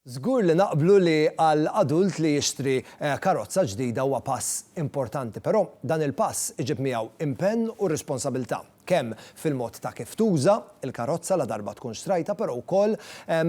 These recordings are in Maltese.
Żgur li naqblu li għal adult li jixtri karozza ġdida huwa pass importanti, però dan il-pass iġib miegħu impenn u responsabilità, kemm fil-mod ta' kif tuża l-karozza ladarba tkun xtrajtha, però wkoll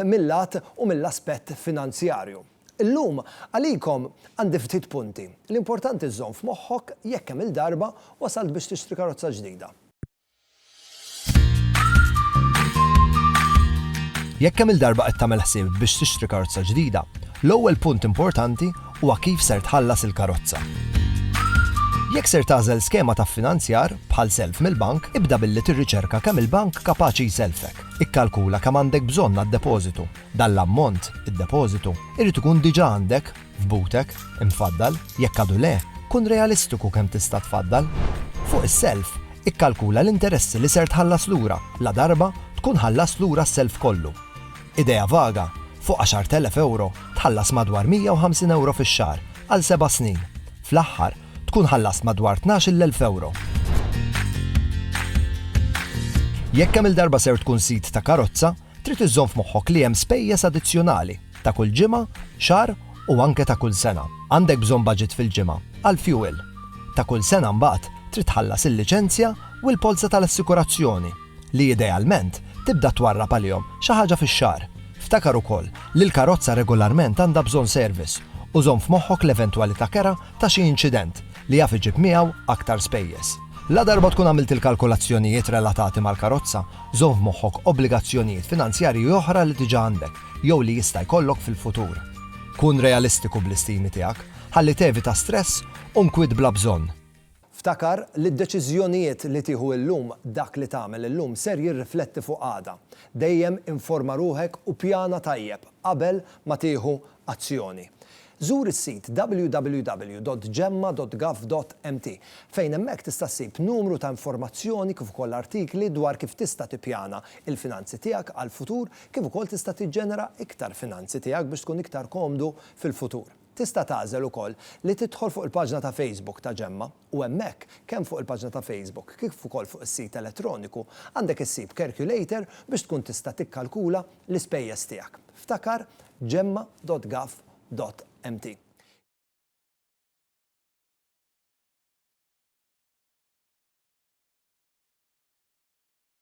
mil-lat u mill-aspett finanzjarju. Illum, għalikom, għandi ftit punti, li importanti żżomm f'moħħok jekk kemm-il darba wasalt biex tixtri karozza ġdida. Jekk kemm-il darba qed tagħmel ħsieb biex tixtri karozza ġdida, l-ewwel punt importanti huwa kif ser tħallas il-karozza. Jekk ser tagħżel skema ta' ffinanzjar, bħal self mill-bank, ibda billi tirriċerka kemm il-bank kapaċi jsellfek. Ikkalkula kemm għandek bżonn għad-depożitu. Dan l-ammont, id-depożitu, irid ikun diġà għandek, f'butek, imfaddal, jekk għadu le, kun realistiku kemm tista' tfaddal. Fuq is-self, ikkalkula l-interessi li ser tħallas lura ladarba tkun ħallast lura s-self kollu. Idea vaga, fuq 10,000 ewro tħallas madwar 150 ewro fix-xahar għal seba' snin. Fl-aħħar, tkun ħallast madwar 12,000 ewro. Jekk kemm-il darba ser tkun sid ta' karozza, Trid iżżomm f'moħħok li hemm spejjeż addizzjonali, ta' kull ġimgħa, xahar u anke ta' kull sena. Għandek bżonn baġit fil-ġimgħa għall-fjuwil. Ta' kull sena mbagħad trid tħallas il-liċenzja u l-polza tal-assikurazzjoni, li idealment tibda twarrab għalihom xi ħaġa fix-xahar. Ftakar ukoll li l-karozza regolarment għandha bżonn service u żomm f'moħħok l-eventwalità kera ta' xi inċident li jaf iġib miegħu aktar spejjeż. Ladarba tkun għamilt il-kalkulazzjonijiet relatati mal-karozza, żomm f'moħħok obbligazzjonijiet finanzjarji oħra li diġà għandek jew li jista' jkollok fil-futur. Kun realistiku bl-istimi tiegħek ħalli tevita stress u nkwiet bla bżonn. Ftakar li d-deċiżjonijiet li tieħu illum, dak li tagħmel illum ser jirrifletti fuq għada. Dejjem informa ruħek u pjana tajjeb qabel ma tieħu azzjoni. Żur is-sit www.gemma.gov.mt fejn hemmhekk tista' ssib numru ta' informazzjoni kif ukoll artikli dwar kif tista' tippjana l-finanzi tiegħek għall-futur kif ukoll tista' tiġġenera iktar finanzi tiegħek biex tkun iktar komdu fil-futur. Tista' tagħżel ukoll li tidħol fuq il-paġna ta' Facebook ta' Gemma. U hemmhekk, kemm fuq il-paġna ta' Facebook kif ukoll fuq is-sit elettroniku, għandek issib kerkulator biex tkun tista' tikkalkula l-ispejjeż tiegħek. Ftakar Gemma dot Gov dot mt.